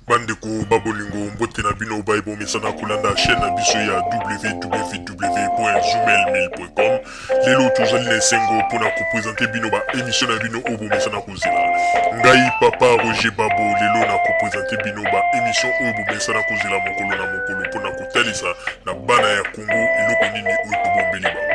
bandeko babolingo mbote na bino baye bomesana kolanda chaîne na biso ya www.zumelmil.com lelo tozali na esengo mpo na kopresente bino baemisio na bino oyo bomesana kozela ngai papa roger babo lelo na kopresente bino baemisio oyo bomesana kozela mokolo na mokolo mpo na kotalisa na bana ya kongo eloko nini oyo tobombeli bango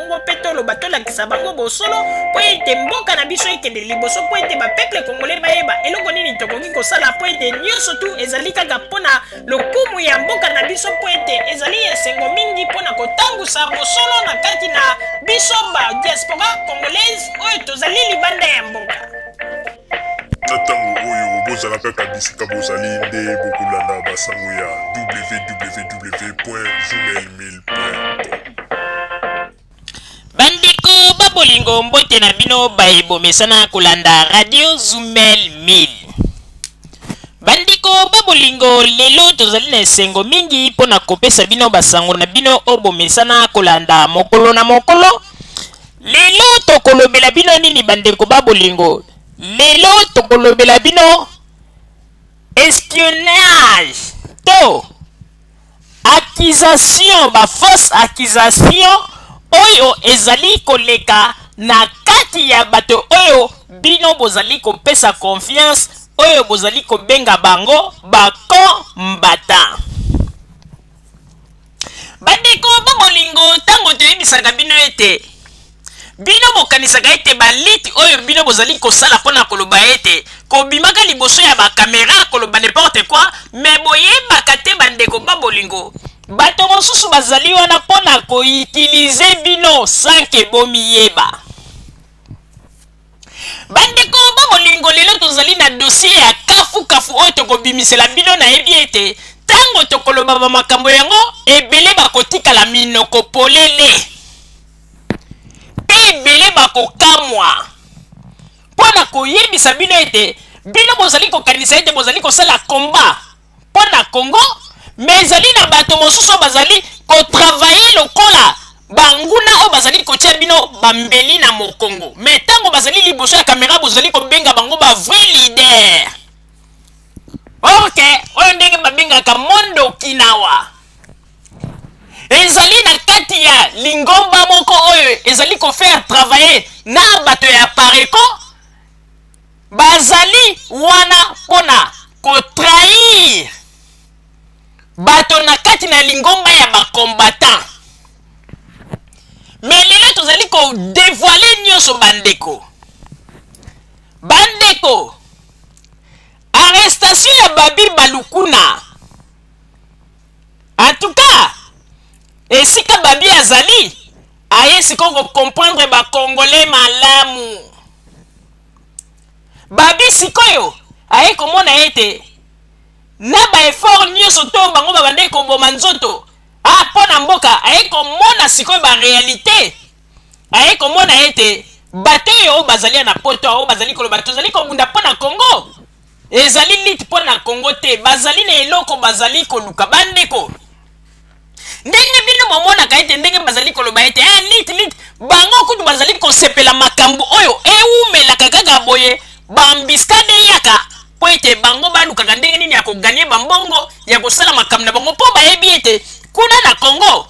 Kongo mpe toloba tolakisa bango bosolo mpo ete mboka na biso ekende liboso mpo ete bapeple kongole bayeba eloko nini tokoki kosala mpo ete nyonso tu ezali kaka mpo na lokumu ya mboka na biso mpo ete ezali esengo mingi mpo na kotangusa bosolo na kati na biso ba diaspora congolaise oyo tozali libanda ya mboka na ntango oyo bozala kaka bisika bozali nde bokolanda basango ya www gmail bandeko babolingo mbote na bino baye bomesana kolanda radio zumel 1000 bandeko babolingo lelo tozali na esengo mingi mpo na kopesa bino basango na bino oyo bomesana kolanda mokolo na mokolo lelo tokolobela bino nini bandeko babolingo lelo tokolobela bino espionnage to Accusation, ba fausses accusations oyo ezali koleka na kati ya bato oyo bino bozali kopesa confiance, oyo bozali kobenga bango ba combattants. Bandeko ba bolingo, tango toyebisaka bino ete Bino bokanisaka ete baliti oyo bino bozali kosala pona koloba ete kobimaka liboso ya ba camera koloba ne porte quoi mais boyebaka te ba ndeko ba bolingo bato mosusu bazali wana pona ko utilize bino sans que bomiyeba ba ndeko ba bolingo lelo tozali na dossier ya kafu kafu oyo tokobimisela bino nayebi ete tango tokoloba ba makambo yango ebele bakotikala minoko polele. Mpe ebele bakokamwa mpo na koyebisa bino ete bino bozali kokanisa ete bozali kosala komba mpo na Congo, me ezali na bato mosusu oyo bazali kotravaye lokola banguna oyo bazali kotia bino bambeli na mokongo. Me ntango bazali liboso ya kamera bozali kobenga bango ba vrai leader. Orke oyo ndenge babengaka Mondo Kinawa. ezali na kati ya lingomba moko oyo ezali kofaire travailler na bato ya pareko bazali wana mpo na kotrahir bato na kati na lingomba ya bacombattant me lelo tozali kodevoile nyonso bandeko bandeko arrestation ya babi balukuna En tout cas, esika Babi azali, aye sikoyo ko comprendre ba Congolais malamu. Babi sikoyo aye komona ete na ba efforts nionso to bango babandaki koboma nzoto ah mpo na mboka, aye komona sikoyo ba realites, aye komona ete bato oyo bazali ya na poto, oyo bazali koloba tozali kobunda mpo na Congo, Ezali lutte mpo na Congo te, bazali na eloko bazali koluka. Bandeko, ndenge bino bomonaka ete ndenge bazali koloba ete eh, lutte, lutte, bango kutu bazali kosepela makambo oyo ewumelaka kaka boye, bambiskade eyaka mpo ete bango balukaka ndenge nini ya koganye bambongo ya kosala makambo na bango mpo bayebi ete kuna na Congo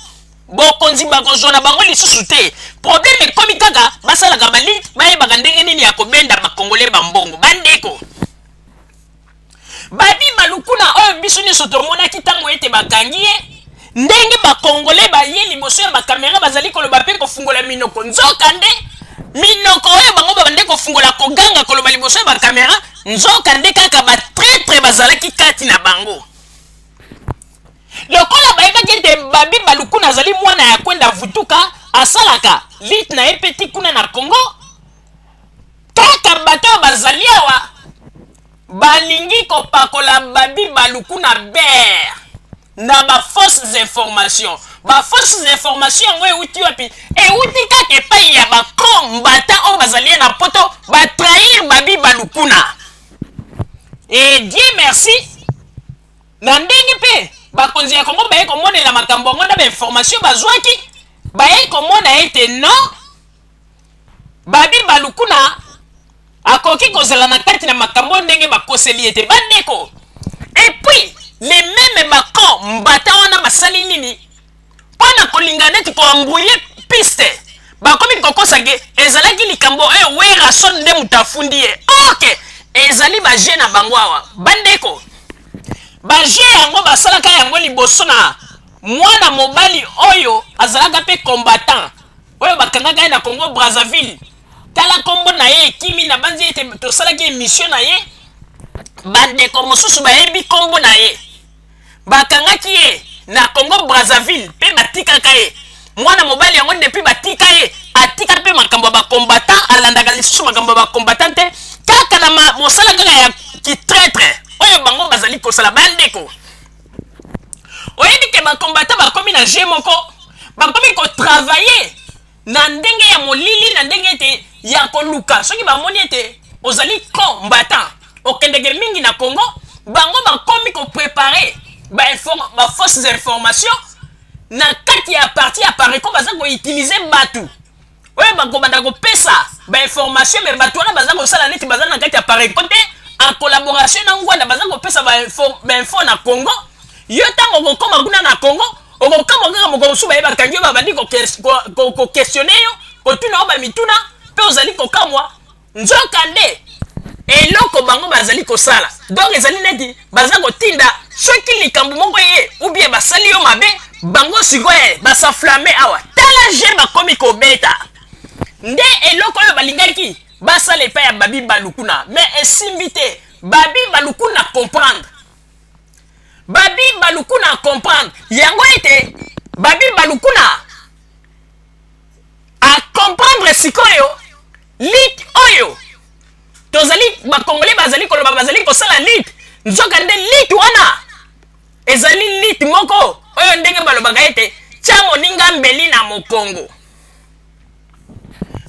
bokonzi bakozwa na bango lisusu te probleme ekomi kaka basalaka bali bayebaka ndenge nini ya kobenda bakongole bambongo bandeko babi balukuna oyo biso nyonso tomonaki ntango ete bakangi ye ndenge bakongole baye liboso ya bakamera bazali koloba mpe kofungola minoko nzoka nde minoko oyo bango babande kofungola koganga koloba liboso ya bakamera nzoka nde kaka batretre bazalaki kati na bango lokola bayebaki ete babi balukuna azali mwana ya kwenda vutuka asalaka lite na ye mpe ti kuna na congo kaka bato oyo bazali awa balingi kopakola babi balukuna bere na bafausses informations bafausses informations yango euti wapi euti kaka epai ya bacro mbata oyo bazali ye na poto batrahir babi balukuna e die merci Na ndenge mpe bakonzi ya Congo baye komonela makambo yango na bainformation bazwaki, baye komona ete non, Babi Balukuna akoki kozala na kati na makambo oyo ndenge bakoseli ye te. Bandeko, et puis les memes bacon mbata wana basali nini? mpo na kolinga neti koambrouye piste bakomi kokosa ke ezalaki likambo oyo eh, werason nde moto afundi ye orke ezali baje na bango awa bandeko baje yango basalaka yango liboso na mwana mobali oyo azalaka mpe combattant oyo bakangaka ye na congo brazzaville tala nkombo na ye ekimi na banzi ete tosalaki emission na ye bandeko mosusu bayebi nkombo na ye bakangaki ye na congo brazzaville mpe batikaka ye mwana mobali yango depuis batika ye atika mpe makambo ya bacombatant alandaka lisusu makambo ya bacombatant te kaka na mosala kaka ya kitretre oyo bango bazali kosala bandeko oyebi ke bacombatant bakomi na je moko bakomi kotravaille na ndenge ya molili na ndenge ete ya koluka soki bamoni ete ozali combattant okendeke mingi na congo bango bakomi koprepare bafausses ba information na kati ya parti ya pareco baza koutilize bato oyo bakobanda kopesa bainformation me bato wana baza kosala neti baza na kati ya pareco te en collaboration na ngwanda baza kopesa bainfo na congo yo ntango okokoma kuna na congo okokamwa kaka mokolo mosusu baye bakangi yo babandi kokestione yo kotuna yo bamituna mpe ozali kokamwa nzoka nde eloko bango bazali kosala donc ezali neti baza kotinda soki likambo moko eye ubie basali yo mabe bango sikoyo eh, basaflame awa tala je bakomi kobeta nde eloko oyo balingaki basala epai ya babi balukuna me esimbi te babi balukuna comprendre babi balukuna a comprendre yango ete babi balukuna a comprendre sikoyo lit oyo tozali bakongole bazali koloba bazali kosala lit nzoka nde lit wana ezali lit moko oyo ndenge balobaka ete tya moninga mbeli na mokongo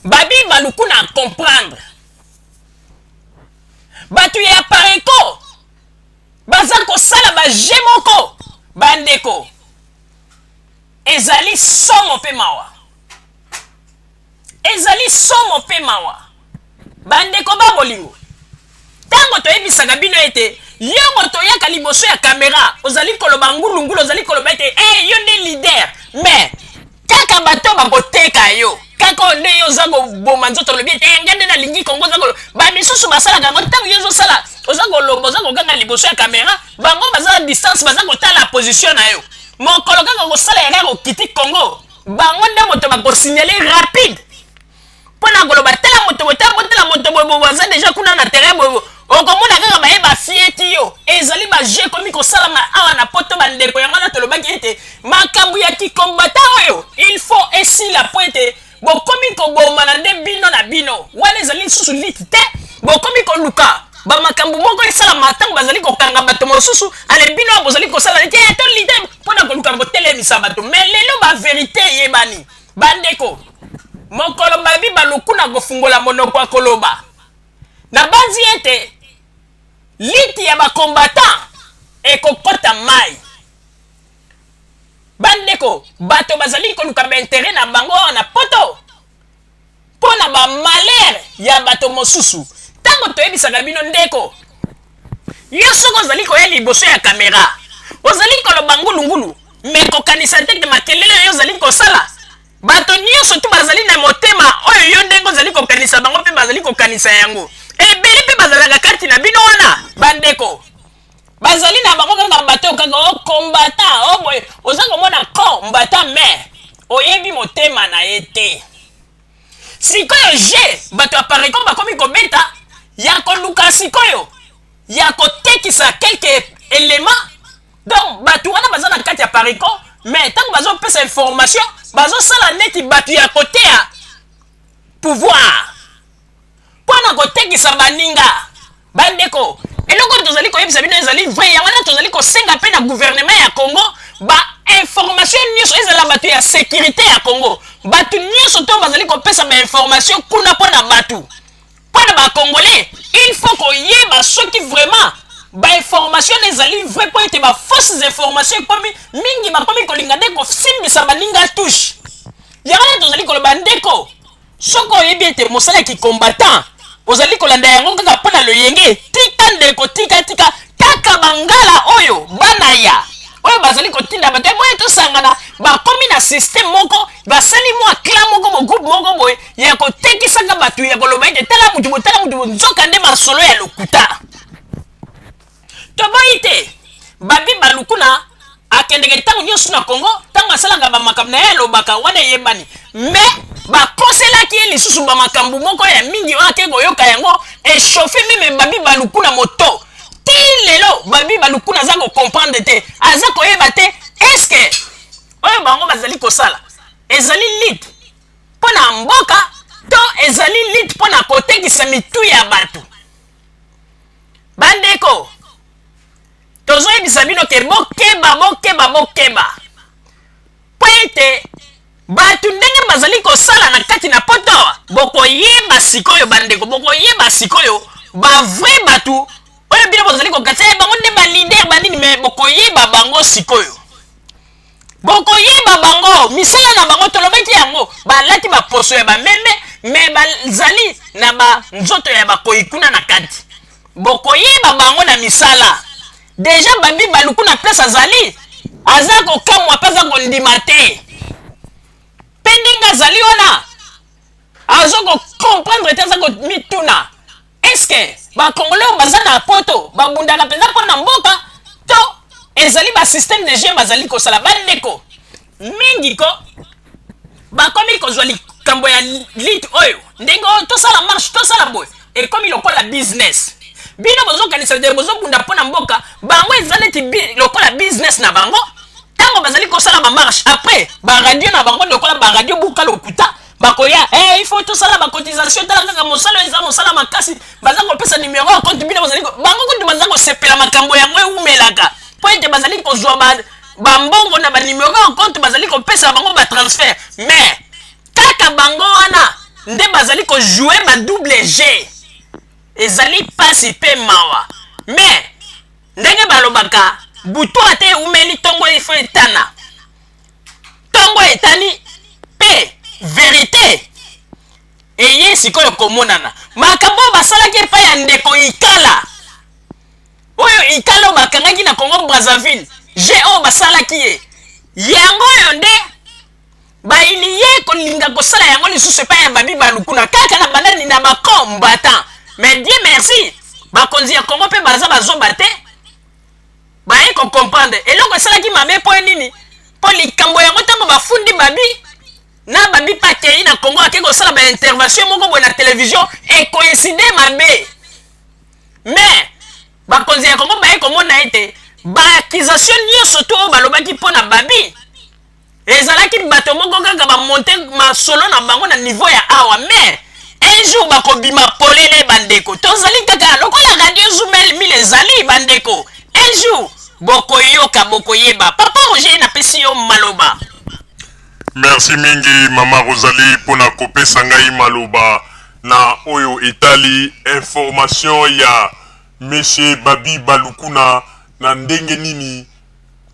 babi balukuna a comprendre bato ya pareko baza kosala baje moko bandeko ezali somo mpe mawa ezali somo mpe mawa bandeko ba bolingo ntango toyebisaka bino ete yongo toyaka liboso ya kamera ozali koloba ngulungulu ozali koloba ete e eh, hey, yo nde lider mais kaka bato bakoteka yo kaka oyo nde yo oza koboma nzoto olobi ete eh, nga nde nalingi kongo oza kolo bamisusu basalaka yango ntango yo ozosala oza koloba oza koganga liboso ya kamera bango baza na distance baza kotala position na yo mokolo kaka kosala ya kaka okiti kongo bango nde moto bakosignale rapide mpo na koloba tala moto boye tala botala moto boye boye aza deja kuna na terrain boye okomona kaka baye bafieti yo ezali baje ekomi kosalama awa na poto bandeko yango wana tolobaki ete makambo ya kikombata oyo il faut esila mpo ete bokomi kobomana nde bino na bino wana ezali lisusu liti te bokomi koluka bamakambo moko esalama ntango bazali kokanga bato mosusu ale bino bozali kosala neti eh, tolite mpo na koluka kotelemisa bato me lelo baverite eyebani Bandeko, mokolo babi balukuna kofungola monoko ya koloba, nabanzi ete liti ya bakombatan ekokota mai. Bandeko, bato bazali koluka baintere na bango awa na poto. mpo na ba malheur ya bato mosusu ntango toyebisaka bino ndeko yo soki ozali koya liboso ya kamera ozali koloba ngulungulu me kokanisa te te makelele oyo ozali kosala bato nyonso tu bazali na motema oyo yo ndenge ozali kokanisa bango mpe bazali kokanisa yango ebele mpe bazalaka kati na bino wana bandeko bazali na bango kaka bato kaka o oh, kombata o oh, boye oza komona kombata me oyebi motema na ye te sikoyo je bato ya parecom bakomi kobeta ya koluka sikoyo ya kotekisa quelque elema donc bato wana baza na kati ya parecom me ntango bazopesa information bazosala neti bato ya koteya pouvoir mpo na kotekisa baninga. Bandeko, eloko oyo tozali koyebisa bino ezali vrai, yango wana tozali kosenga mpe na gouvernement ya Congo ba information nyonso ezala bato ya securite ya Congo, bato nyonso to bazali kopesa ba information kuna mpo na bato mpo na ba Congolais, il faut koyeba soki vraiment ba information na ezali vrai mpo ete ba fausses information ekomi mingi, bakomi kolinga nde kosimbisa baninga touche. Yango wana tozali koloba ndeko soki oyebi ete mosala ya kicombatant ozali kolanda yango kaka mpo na loyenge tika ndeko tika tika kaka bangala oyo bana ya oyo bazali kotinda bato boye tosangana bakomi na systeme moko basali mwa clan moko bogroupe moko boye ya kotekisaka bato ya koloba ete tala motu botala motu nzoka nde masolo ya lokuta toboyi te babi balukuna akendeke ntango nyonso na congo ntango asalaka bamakambo na ye alobaka wana eyebani me bakoselaki ye lisusu bamakambo moko ya mingi oyo ake koyoka yango echauffe meme babi balukuna moto ti lelo babi balukuna aza kocomprendre te aza koyeba te eske oyo bango bazali kosala ezali lite mpo na mboka to ezali lite mpo na kotekisa mitu ya bato bandeko tozoyebisa bino ke bokeba bokeba bokeba mpo ete bato ndenge bazali kosala na kati na poto bokoyeba sikoyo bandeko bokoyeba sikoyo bavrai bato oyo bino bozali kokatisa bango nde balider banini me bokoyeba bango sikoyo bokoyeba bango misala na bango tolobaki yango balati baposo ya bameme me bazali na banzoto ya bakoi kuna na kati bokoyeba bango na misala deja babi baluku na place azali aza kokamwa mpe aza kondima te mpe ndenge azali wana aza kokomprendre te aza komituna Est-ce que ba congolais oyo baza na poto babundaka mpenza mpo na mboka to ezali ba système de jeu bazali kosala bandeko mingi ko bakomi kozwa likambo ya lite oyo ndenge oyo tosala marche tosala boye ekomi lokola business bino bozokanisa dere bozobunda mpo na mboka bango eza neti lokola business na bango ntango bazali kosala bamarche après baradio na bango lokola baradio buka lokuta bakoya eh, il faut tosala bacotisation tala kaka mosala eza mosala makasi baza kopesa numero ya compte bino bazali bango kutu baza kosepela makambo yango eumelaka mpo ete bazali kozwa bambongo na banumero ya compte bazali kopesa bango batransfert mais kaka bango wana nde bazali kojoue ba double g ezali mpasi mpe mawa mais ndenge balobaka butu ata eumeli ntongo ifo etana ntongo etani mpe verite eye sikoyo komonana makambo oyo basalaki epai ya ndeko ikala oyo ikala oyo bakangaki na congo brazzaville je oyo basalaki ye yango oyo nde bayini ye kolinga kosala yango lisusu epai ya babi balukuna kaka na banani na bacombatan mais die merci bakonzi ya congo mpe baza bazoba te baye ko comprendre eloko esalaki mabe mpo nini mpo likambo yango ntango bafundi babi na babi mpe akei na congo akei kosala baintervention moko boye na televizio ekoinside mabe mais bakonzi ya congo baye komona ete baaccusation nyonso to oyo balobaki mpo na babi ezalaki bato moko kaka bamonte masolo na bango na nivo ya awa mais un jour bakobima polele bandeko tozali kaka lokola radio zumel mil ezali bandeko un jour bokoyoka bokoyeba papa roger napesi yo maloba merci mingi mama rosalie mpo na kopesa ngai maloba na oyo etali information ya monsieur babi balukuna na ndenge nini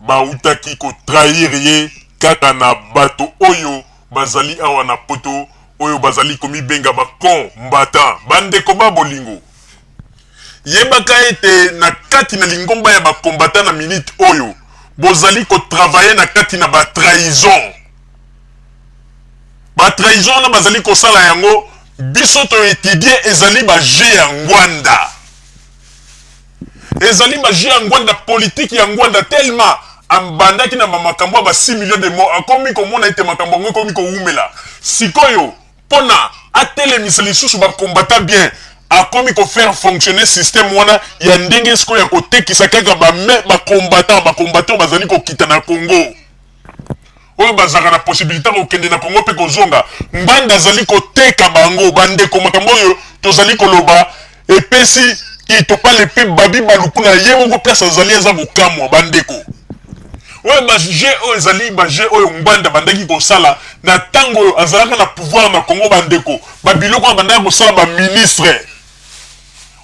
Bawutaki ko trahir ye kaka na bato oyo bazali awa na poto oyo bazali komibenga ba com mbattants. Ba ndeko ba bolingo, yebaka ete na kati na lingomba ya ba combattants na minute oyo bozali ko travailler na kati na ba trahison. Ba trahison wana bazali kosala yango biso to etudier ezali ba jeux ya ngwanda. Ezali magie ya Ngwanda, politique ya Ngwanda tellement abandaki na makambo ya ba 6 millions de morts akomi komona ete makambo yango ekomi kowumela sikoyo pona atelemisa lisusu ba combattants bien akomi ko faire fonctionner système wana ya ndenge sikoyo ya kotekisa kaka ba ba combattants ba combattants bazali kokita na Congo oyo bazalaka na possibilité kokende na Congo mpe kozonga, Ngbanda azali koteka bango. Bandeko, makambo oyo tozali koloba epesi itopale mpe babi baluku na ye moko place azali aza kokamwa. Bandeko oyo baje oyo ezali baje oyo Ngbanda bandaki kosala na ntango oyo azalaka na pouvoir na Congo. Bandeko babiloko oyo bandaki kosala baministre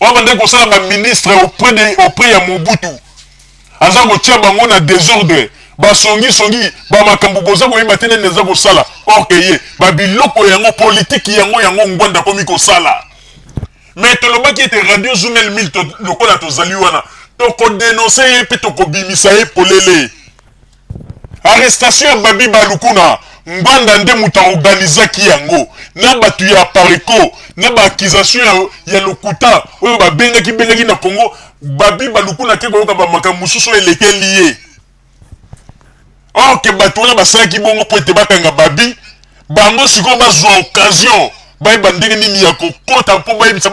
oyo bandaki kosala baministre auprès ya Mobutu aza kotia bango na desordre basongi songi ba makambo boza koyeba te nani aza kosala or que ye ba biloko yango politiki yango yango ngwanda akomi kosala me tolobaki ete radio zumel mil lokola tozali wana tokodenonse ye mpe tokobimisa ye polele Arrestation ya Babi Balukuna, Ngbanda nde moto a organisaki yango na batu ya Apareco na ba accusations ya, ya lokuta oyo babengaki bengaki na Congo. Babi Balukuna ake koyoka ba makambo mosusu oyo elekeli ye. Or que batu wana basalaki bongo mpo ete bakanga Babi Bango sikoyo bazwa occasion bayeba ndenge nini ya kokota mpo bayebisa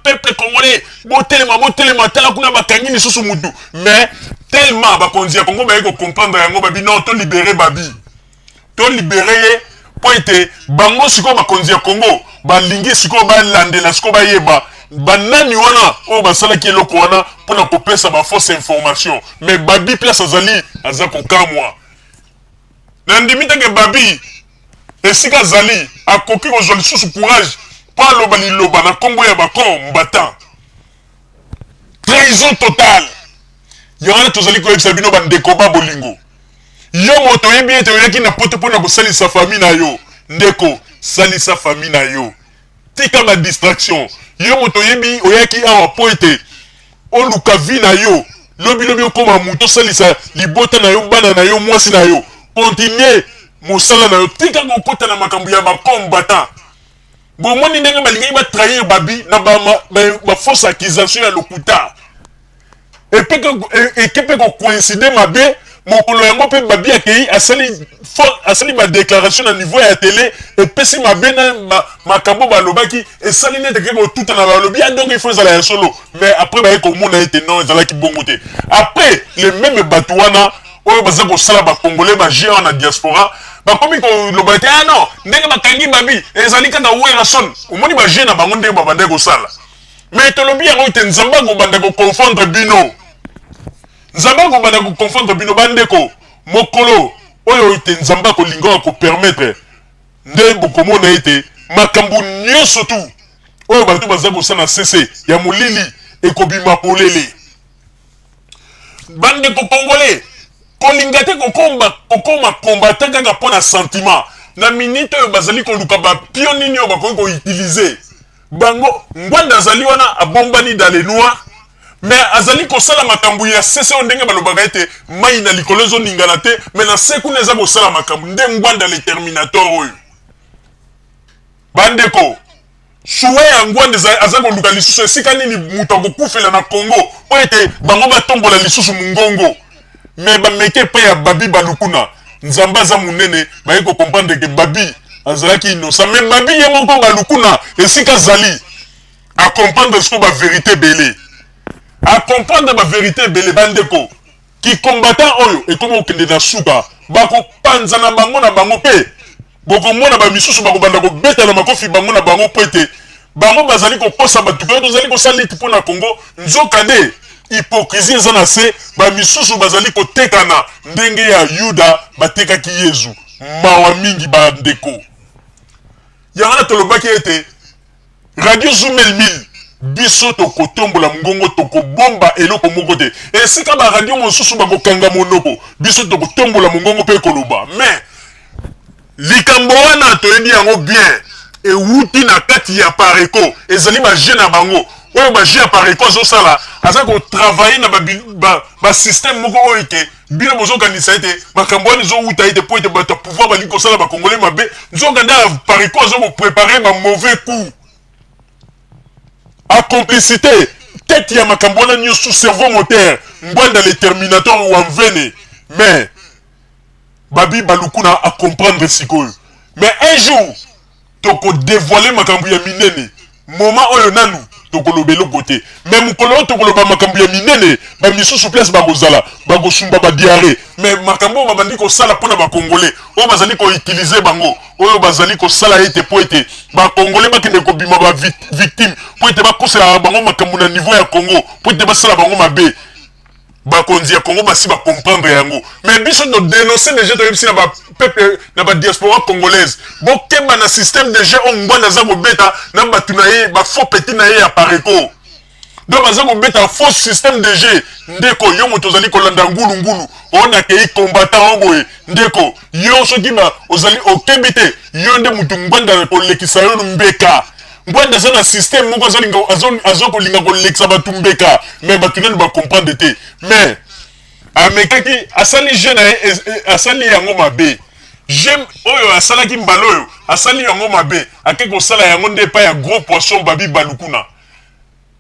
peuple congolais botelema botelema tala kuna bakangi lisusu mutu mais tellement bakonzi ya kongo baye kocomprendre yango babi non tolibere babi tolibere ye mpo ete bango sikoyo bakonzi ya kongo balingi sikoyo balandela sikoyo bayeba banani wana oyo basalaki eloko wana mpo na kopesa bafausse information mais babi place azali aza kokamwa Nandimi te ke Babi, esika azali, akoki kozwa lisusu courage mpo aloba liloba na kombo ya ba com battant. Trahison totale! Yango wana tozali koyebisa bino ba ndeko ba bolingo. Yo moto oyebi ete oyaki na poto mpo na kosalisa famille na yo, ndeko salisa famille na yo. tika ba distraction yo moto oyebi oyaki awa mpo ete oluka vi na yo lobi lobi okoma moto osalisa libota na yo bana na yo mwasi na yo continue mosala na yo tika kokota na makambo ya bacombatant bomoni ndenge balingaki batrahir babi na bafausse ba, ba accusation ya lokuta eke mpe kocoincide mabe mokolo yango mpe babi akei asali asali badéclaration na niveau ya tele epesi mabe na makambo balobaki esali nete ke kotuta na balobi ya ah, donc ifo ezala ya solo mais après baye komona ete non ezalaki bongo te après le meme bato wana oyo baza kosala bacongolais baje wana na diaspora bakomi koloba te ah non ndenge bakangi babi ezali kaka werrason omoni baje na bango ndenge babandaki kosala mais tolobi yango ete nzambe akobanda koconfondre bino nzambe akobanda koconfondre bino bandeko mokolo oyo ete nzambe akolinga akopermettre nde bokomona ete makambo nyonso tu oyo bato baza kosala na sese ya molili ekobima polele bandeko kongole kolinga te kokoma kokoma kombata kaka mpo na sentiment na minite oyo bazali koluka bapio nini oyo bakoki koutilize bango ngwanda azali wana abombani dans le noir mais azali kosala makambo ya sese oyo ndenge balobaka ete mai na likolo ezoningana te mais na se kuna eza kosala makambo nde ngwanda le terminator oyo bandeko suwe ya ngwanda aza koluka lisusu esika nini moto akokufela na congo oyo ete bango batombola lisusu mongongo mais bameki epai ya babi balukuna nzambe aza monene baye kocomprendre ke babi azalaki innocent mais babi ye moko balukuna esika azali acomprendre siko baverité ebele acomprendre baverité ebele bandeko kicombatant oyo ekomi kokende na suka bakopanzana bango na bango mpe Bokomona bamisusu bakobanda kobeta na makofi bango na bango mpo ete bango bazali kokosa bato mpe tozali kosala liti mpo na Congo, nzokande hypocrisie eza na se, bamisusu bazali kotekana ndenge ya Yuda batekaki Yezu. Mawa mingi bandeko. Yango wana tolobaki ete Radio Zumel 1000 biso tokotombola mongongo tokobomba eloko moko te esika baradio mosusu bakokanga monoko biso tokotombola mongongo mpe koloba mais likambo wana toyebi yango bien ewuti na kati ya pareco ezali baje na bango oyo baje ya pareco azosala aza kotravaille na basystème ba, ba moko oyo ete Bino bozokanisa ete makambo wana ezowuta ete mpo ete bato ya pouvoir balingi kosala bakongole mabe nzoka nde parico azo koprepare ba mauvais coup a complicité tete ya makambo wana nyonso cerveau moteur ngwanda le terminator wa mvene mais babi balukuna acomprendre sikoyo mais un jour toko devoile makambo ya minene moma oyo nanu tokoloba eloko te me mokolo oyo tokoloba makambo ya minene bamisusu place bakozala bakosumba badiare me makambo oyo babandi kosala mpona bakongole oyo bazali koutilize bango oyo bazali kosala ete mpo ete bakongole bakende kobima bavictime mpo ete bakosela bango makambo na niveau ya congo mpo ete basala bango mabe bakonzi ya Congo basi ba comprendre yango mais biso to denoncer déjà toyebisi na ba peuple na ba diaspora congolaise bokeba na système de jeu oyo ngwanda aza kobeta na bato na ye ba faux petit na ye ya pareco donc baza kobeta faux système de jeu ndeko yo moto ozali kolanda ngulungulu oyo nakei combattant oyo boye ndeko yo soki ozali okebi te yo nde moto ngwanda kolekisa yo mbeka Ngwanda aza na système moko azolinga azokolinga kolekisa bato mbeka mais bato nani bacomprendre te mais amekaki asali jeu na ye e, e, asali yango mabe jeu oyo asalaki mbala oyo asali yango mabe ake kosala yango nde epai ya gros poisson babi balukuna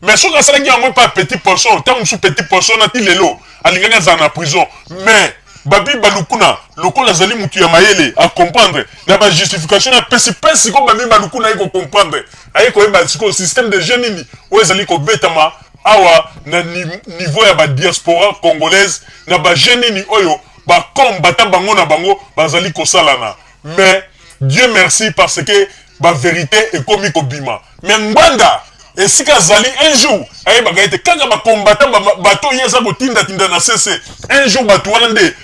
mais soki asalaki yango epa petit poisson ntango mosusu petit poisson na ti lelo alingaki azala na prison mais babi balukuna lokola azali motu ya mayele acomprendre na bajustification na pesi mpe sikoyo babi balukuna aye kocomprendre aye koyeba sikoyo système de jeu nini oyo ezali kobetama awa na niveau ya badiaspora congolaise na bajeu nini oyo bacombata bango na bango bazali kosalana mais dieu merci parce que baverité ekomi kobima Mais Ngbanda esika azali un jour ayebaka ete kaka bacombatant bato oyo aza kotindatinda na sese un jour bato wana nde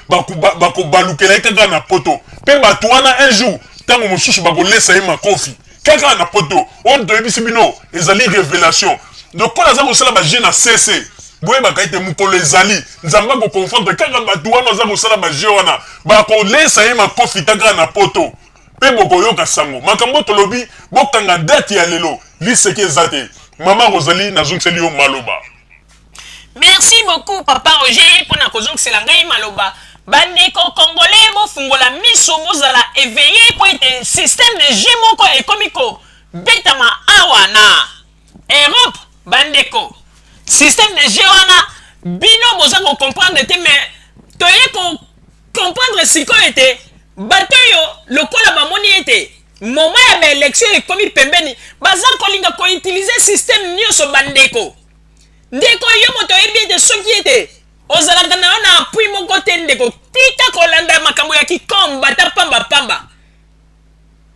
bakobalukela ye kaka na poto mpe bato wana un jour ntango mosusu bakolesa ye makofi kaka na poto oyo toyebisi bino ezali révélation lokola aza kosala baje na sese boyebaka ete mokolo ezali nzambe akoconfondre kaka bato wana aza kosala baje wana bakolesa ye makofi kaka na poto mpe bokoyoka sango. Makambo tolobi, bokanga date ya lelo, liseki eza te. Mama Rosalie, nazongiseli yo maloba. Merci beaucoup papa Roger mpo na kozongisela ngai maloba. Bandeko congolais bofungola miso bozala eveille mpo ete système de jeu moko ekomi kobetama awa na Europe bandeko. Système de jeu wana bino boza ko comprendre te mais toye ko comprendre sikoyo ete bato oyo lokola bamoni ete moma ya baelektio ekomi pembeni baza kolinga koutilize systeme nyonso bandeko ndeko yo moto oyebi ete soki ete ozalaka na yo na apui moko te ndeko tika kolanda makambo ya kikombata pambapamba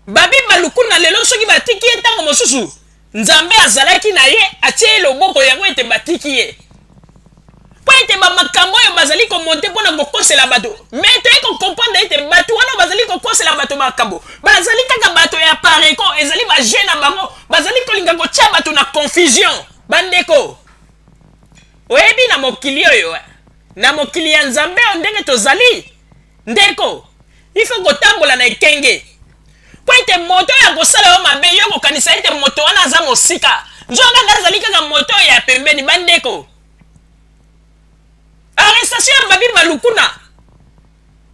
Babi Baluku na lelo soki batiki ye ntango mosusu Nzambe azalaki na ye atie ye loboko yango ete batiki ye mpo ete bamakambo oyo bazali komonte mpo na kokosela bato me toye kokomprendre ete bato wana bazali kokosela bato makambo bazali kaka bato ya pareko ezali baje na bango bazali kolinga kotya bato na confusion bandeko oyebi na mokili oyo eh, na mokili ya nzambe oyo ndenge tozali Ndeko, il faut kotambola na ekenge. Mpo ete moto oyo akosala yo mabe, yo okokanisa ete moto wana aza mosika, nzokande azali kaka moto oyo ya pembeni. Bandeko, arrestation ya Babi Balukuna,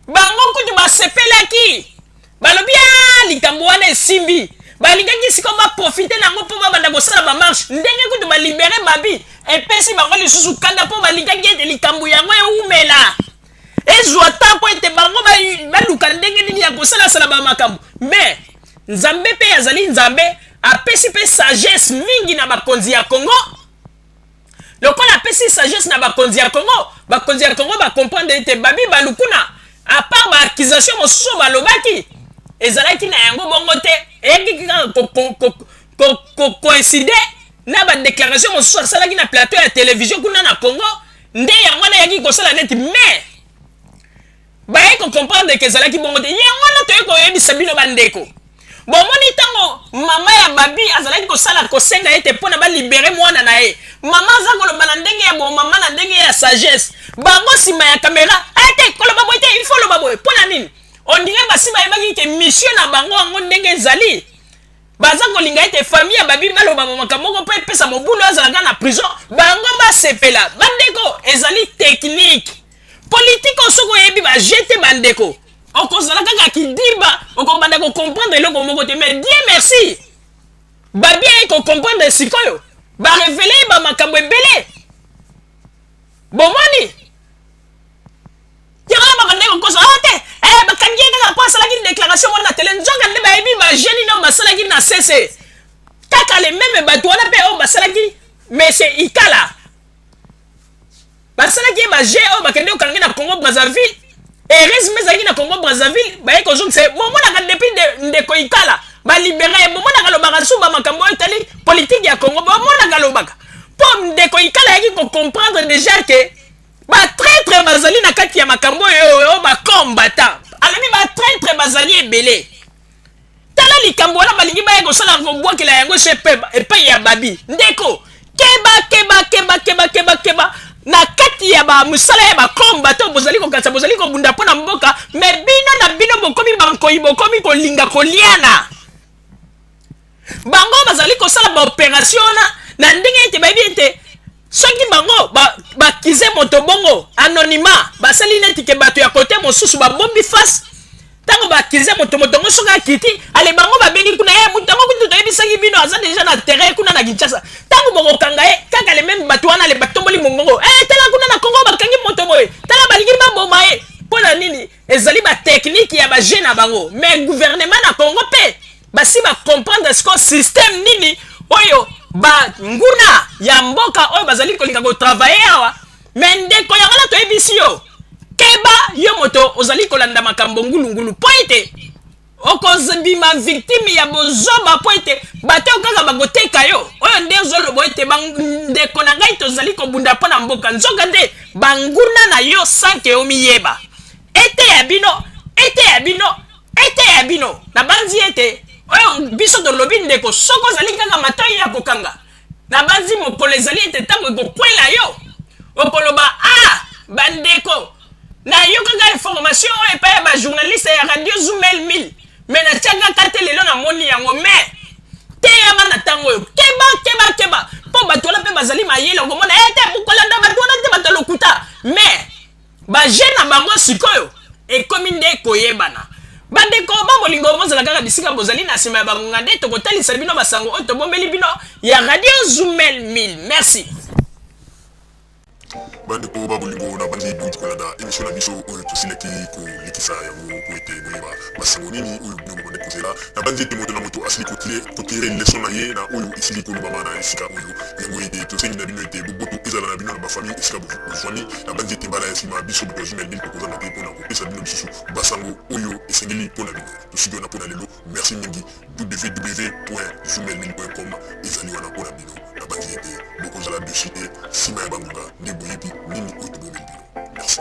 bango kutu basepelaki, balobi a ah, likambo wana esimbi balingaki sikoyo baprofite na yango mpo babanda kosala bamarshe ndenge kutu balibere babi epesi bango lisusu kanda mpo balingaki ete likambo yango ewumela ezwa ntango ete bango baluka ndenge nini ya kosalasala bamakambo me nzambe mpe azali nzambe apesi mpe sagesse mingi na bakonzi ya congo lokola apesi sagesse na bakonzi ya congo bakonzi ya congo bakomprendre ete babi balukuna apart baaccusation mosusu oyo balobaki ezalaki na yango bongo te eyaki kaka koincide na badéclaration mosusu asalaki na plateau ya televizio kuna na congo nde yango wana eyaki kosala neti mais baye kocomprendre ke ezalaki bongo te yango wana toye koyebisa bino bandeko bomoni ntango mama ya babi azalaki kosala kosenga ye te mpo na balibere mwana na ye mama aza koloba na ndenge ya bomama na ndenge ya sagesse bango nsima ya kamera ete eh, koloba boye te ilfo loba boye mpo na nini ondire basi bayebaki te misio na bango yango ndenge ezali baza kolinga ete famille ya babimi balobama makambo moko mpo epesa mobulu azalaka na prison bango basepela bandeko ezali teknike politike osoki oyebi baje te bandeko okozala kaka kidiba okobanda kocomprendre eloko moko te mais die merci babi aye kocomprendre sikoyo barevele ye bamakambo ebele bomoni yango na babanda kokosa o oh, te eh, bakangi ye kaka mpo asalaki déclaration wana na tele nzoka nde bayebi bageni nao basalaki na sese kaka le meme bato wana mpe oyo basalaki mese ikala basalaki ye baje oyo bakende kokangi na congo brazzaville heureusement ezalaki na congo brazzaville baye kozongisa ye bomonaka depuis ndeko ikala balibere ye bomonaka alobaka suba makambo oyo etali politike ya congo bomonaka alobaka mpo ndeko ikala ayaki kocomprendre déjà ke batraitre bazali na kati ya makambo oyo bakombata alobi batraitre bazali ebele tala likambo wana balingi baya kosala kobwakela yango se epai ya babi ndeko keba keba keba keba keba keba na kati ya bamosala ya bakombata oyo bozali kokatisa bozali kobunda mpo na mboka me bino na bino bokomi bankoi bokomi kolinga koliana bango bazali kosala baoperation wana na ndenge ete bayebi ete soki bango bakize ba moto bongo anonyma basali neti ke bato ya kote mosusu babombi face ntango bakize moto moto yango soki akiti ale bango babengi kuna ye eh, moto yango kutu toyebisaki bino aza deja na terrain kuna na kinshasa ntango bokokanga ye kaka le meme bato wana le batomboli mongongo e eh, tala kuna na kongo bakangi moto boye tala balingi baboma ye mpo na nini ezali bateknike ya baje na bango mais guvernema na kongo mpe basi ba comprendre siko système nini oyo banguna ya mboka oyo bazali kolinga kotravaye awa me ndeko yango na toyebisi yo keba yo moto ozali kolanda makambo ngulungulu mpo ete okozbima victime ya bozoba mpo ete bato oyo kaka bakoteka yo oyo nde ozoloba ete ndeko na ngai tozali kobunda mpo na mboka nzoka nde banguna na yo sanke omiyeba eteya bino eteya bino eteya bino nabanzi ete oyo biso tolobi ndeko soki ozali kaka matoi ya kokanga nabanzi mokolo ezali ete ntango ekokwela yo okoloba a ah, bandeko nayokaka information oyo epai ya bajournaliste ya radio zoumel mil me natiaka ka te lelo namoni yango me teyama na ntango oyo keba keba keba mpo bato wana mpe bazali mayele okomona ete eh, mokolanda bato wana te bato ya lokuta me baje na bango sikoyo ekomi nde koyebana bandeko ba bolingo bozala kaka bisika bozali na nsima ya bangonga nde tokotalisa bino basango oyo tobombeli bino ya radio zoumel 1000 merci bandeko ba bolingo na bandi bongi kolanda emission na biso oyo tosilaki kolekisa yango po ete boyeba Masolo nini oyo bino bobandi kozela? Nabanzi ete moto na moto asili kotire leso na ye na oyo esili kolobama na esika oyo. Yango ete tosengi na bino ete boboto ezala na bino na bafami esika bozwami. Nabanzi ete mbala ya nsima biso bato ya Zumel Bill tokozanga te mpo na kopesa bino lisusu basango oyo esengeli mpo na bino. Tosiki wana mpo na lelo. Merci mingi. www.zumelbill.com ezali wana mpo na bino. Nabanzi ete bokozala desu te nsima ya bangonga nde boyebi nini oyo tobomeli bino. Merci.